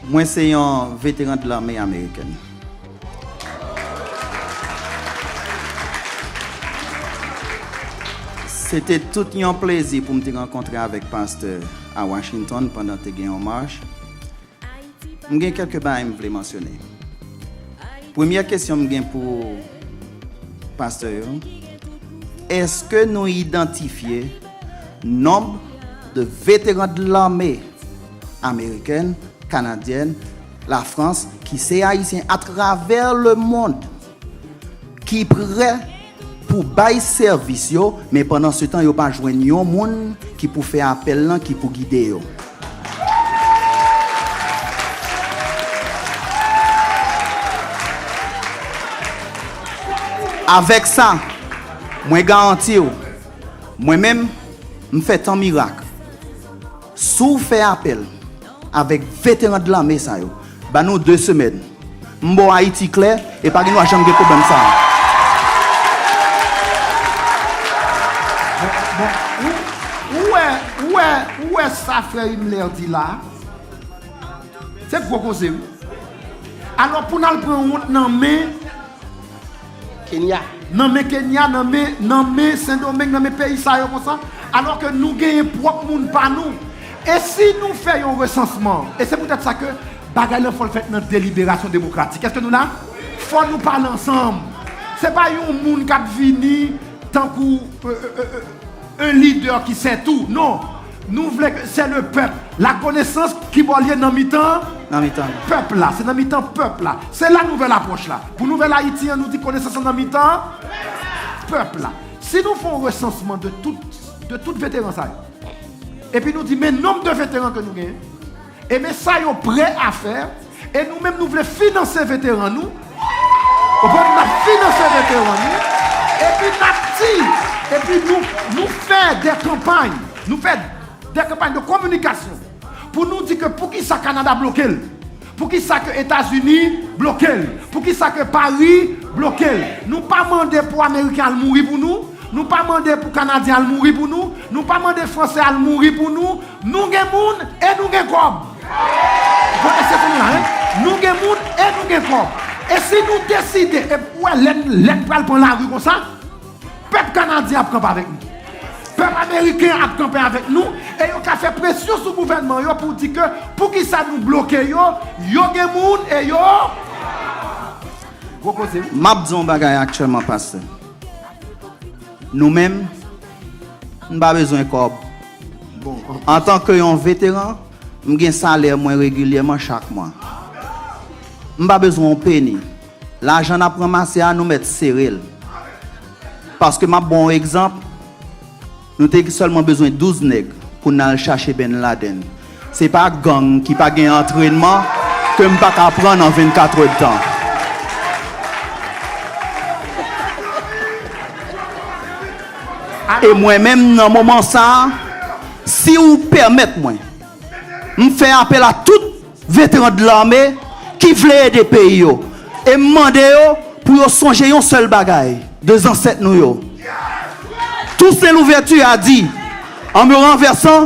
Mwen se yon veteran de lame amerikèn. Se te tout yon plezi pou m te rankontre avèk pastè a Washington pandan te gen yon mach. M gen kèlke bagay m vle mansyone. Premyè kesyon m gen pou pastè yo, èske nou idantifye. Nonb de veteran de lame amerikèn, kanadyèn, la Frans ki se ayisyen a travè le mond ki prè pou bay sèvis yo men pandan se tan yo pa jwenn yon moun ki pou fè apèl lan ki pou gide yo. Avèk sa, mwen garanti w. Mwen menm, m fè tan mirak. Si w fè apèl avèk veteran de lame sa yo, ba nou 2 semèn, m ba w Ayiti klè e pa gen dwa janm gen pwoblèm sa a. Bon, ou wè, ou wè sa frè Himmler di la a? Se gwo koze wi. Alò pou n al pran wont nan men. Kenya. Nan men Kenya, nan men, nan men Sendomeng, nan men peyi sa yo konsa, alò ke nou genyen pwòp moun pa nou. E si nou fè yon resansman, e se poutèt sa ke bagay lan fò l fèt nan deliberasyon demokratik. Èske nou la? Fò nou pale ansanm. Se pa yon moun k ap vini tankou 1 lidè ki sè tou. Non! Nou vle ke se le pèp. La konesans ki bò l ye nan mitan pèp la. Se nan mitan pèp la. Se la nouvèl apwòch la. Pou nouvèl Ayiti an nou di konesans lan nan mitan pèp la. Si nou fè yon resansman de tout veteran sa yo. Epi nou di men nonb de veteran ke nou genyen. E men sa yo prè a fè e nou menm nou vle finanse veteran nou ou konprann nap finanse veteran nou epi nap di epi nou nou fè dè kanpay nou fè dè kanpay de kominikasyon pou nou di ke poukisa Kanada blokel poukisa ke Etazini blokel poukisa ke Pari blokel nou pa mande pou Ameriken al mouri pou nou nou pa mande pou Kanadyen al mouri pou nou nou pa mande Fransè al mouri pou nou Nou gen moun e nou gen kòb. Konnen se kounye a hein. Nou gen moun e nou gen kòb. E si nou deside e pou wè lè lè n pral pran lari konsa, pèp kanadyen ap kanpe avèk nou. Pèp ameriken ap kanpe avèk nou e yo ka fè presyon sou gouvènman yo pou di ke poukisa nou bloke yo, yo gen moun e yo Gwo koze wi. Map di yon bagay aktyèlman pastè. Nou menm n pa bezwen kòb Bon, antanke yon veteran, m gen salè mwen regilyèman chak mwa. M pa bezwen yon peni. Lajan n ap ranmase a, nou mèt sere l. Paske m ap ba w yon egzanp, nou te sèlman bezwen douz nèg pou n al chache Bin Laden. Se pa gang ki pa gen antrenman ke m pa ka pran nan 24 è tan. E mwen menm nan moman sa a, si ou pèmèt mwen, m fè apèl a tout veteran de lame ki vle ede peyi yo e m mande yo pou yo sonje yon sèl bagay de zansèt nou yo. Tousen Louvèti a di, an me ranvèsan,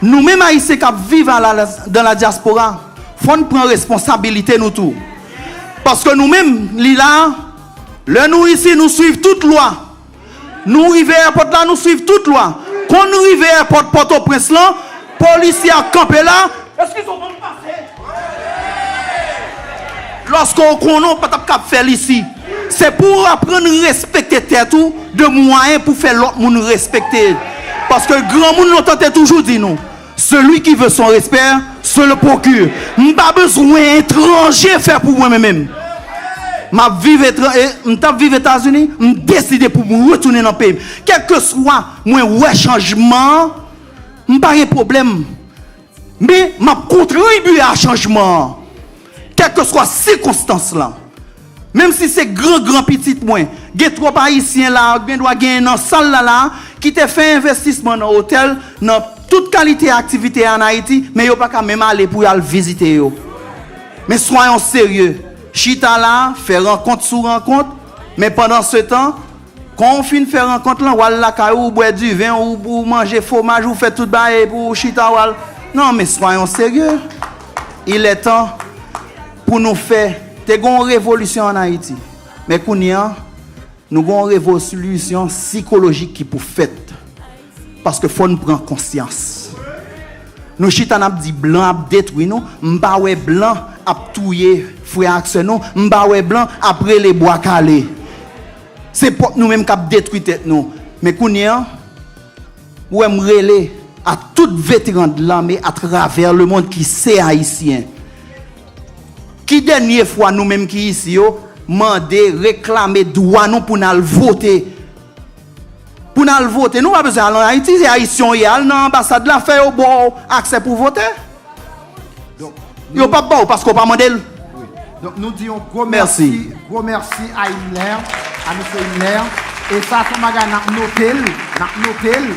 Nou menm Ayisyen k ap viv a la dan la dyaspora, fò n pran responsabilite nou tou. Paske nou menm, li la a, lè nou isi nou swiv tout lwa. Nou rive èpòt la, nou swiv tout lwa. Kon n rive èpòt Pòtoprens lan, polisye a kanpe la. Loske ou konnen ou pa tap kab fèl isi, se pou ou aprann respekte tèt ou de mwayen pou fè lòt moun respekte. Paske granmoun lontan te toujou di nou, Celui qui veut son respect se le procure. M pa bezwen etranje fè pou mwen menm. Map viv etran e m tap viv Etazini, m deside pou m retounen nan peyi m. Kèlkeswa mwen wè chanjman an, m pa gen pwoblèm. Men, m ap kontribye a chanjman an, kèlkeswa sikonstans lan. Menm si se gran gran pitit mwen, gen twòp Ayisyen la a, gen dwa genyen nan sal la la a, ki te fè envestisman nan otèl, nan tout kalite aktivite ann Ayiti, men yo pa ka menm ale pou y al vizite yo. Men swayon serye, chita la a, fè rankont sou rankont, men pandansetan, Kon ou fin fè rankont lan wal lakay ou ou bwè du vin ou ou manje fomaj ou fè tout bagay epi ou chita wal nan men soyons sérieux il est temps pou nou fè te gon yon revolisyon an Ayiti men kounye an nou gon yon revolisyon sikolojik ki pou fèt Paske fò n pran konsyans. Nou chita n ap di blan ap detwi nou, m pa wè blan ap touye frè ak sè nou, m pa wè blan ap rele bwa kale. Se pwòp nou menm k ap detwi tèt nou. Men kounye an, ou wè m rele a tout veteran de lame atravè lemond ki se Ayisyen. Ki dènye fwa nou menm ki isi yo mande, reklame dwa nou pou n al vote Pou n al vote nou pa bezwen al an Ayiti se Ayisyen w ye al nan anbasad la fè yo ba w aksè pou w vote yo pap ba w paske w pa mande l. Donk nou di yon gwo mèsi gwo mèsi a Himler a mesye Himler e sa son bagay nap note l nap note l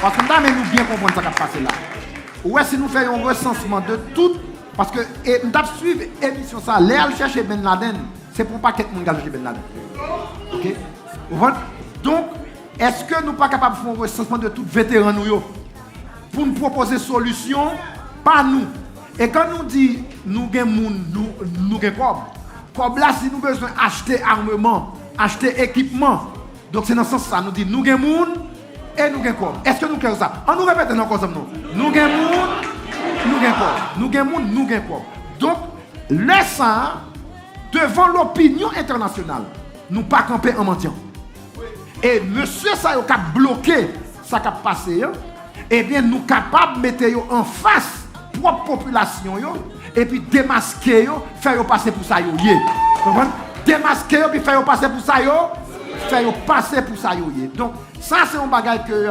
paske m ta renmen nou byen konprann sa kap pase la ou wè si nou fè yon resansman de tout paske e m tap swiv emisyon sa lè al chèche Bin Laden Se pou yon pakèt moun galoje bèn ladan. Ok. Ou konprann? Donk, èske nou pa kapab fè yon resansman de tout veteran nou yo pou n pwopoze solisyon pa nou? E kan nou di nou gen moun, nou gen kòb, kòb la si nou bezwen achte armeman, achte ekipman, donk se nan sans sa nou di nou gen moun e nou gen kòb. Èske nou klè sou sa? An nou repete l ankò zanmi nou. Nou gen moun, nou gen kòb. Nou gen moun, nou gen kòb. Donk. Lè sa a, devan lopinyon entènasyonal, nou pa kanpe an mandyan. E mesye sa yo k ap bloke sa k ap pase an, ebyen nou kapab mete yo anfas pwòp popilasyon yo epi demaske yo, fè yo pase pou sa yo ye. Ou konprann? Demaske yo epi fè yo pase pou sa yo, fè yo pase pou sa yo ye. Donk, sa se yon bagay ke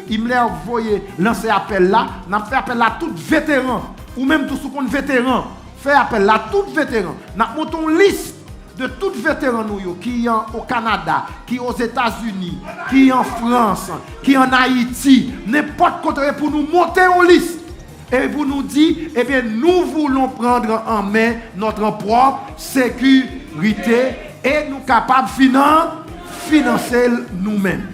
Himmler voye lanse apèl la. N ap fè apèl la a tout veteran. Ou menm tou si w konn veteran, fè apèl la a tout veteran. N ap monte yon lis de tout veteran nou yo ki o Kanada, ki o Zetazini, ki an Frans, ki an Ayiti, nenpòt kote yo ye pou nou monte yon lis e pou nou di ebyen nou voulons prendre en main notre prop seku rite e nou kapab finan finanse l nou menm.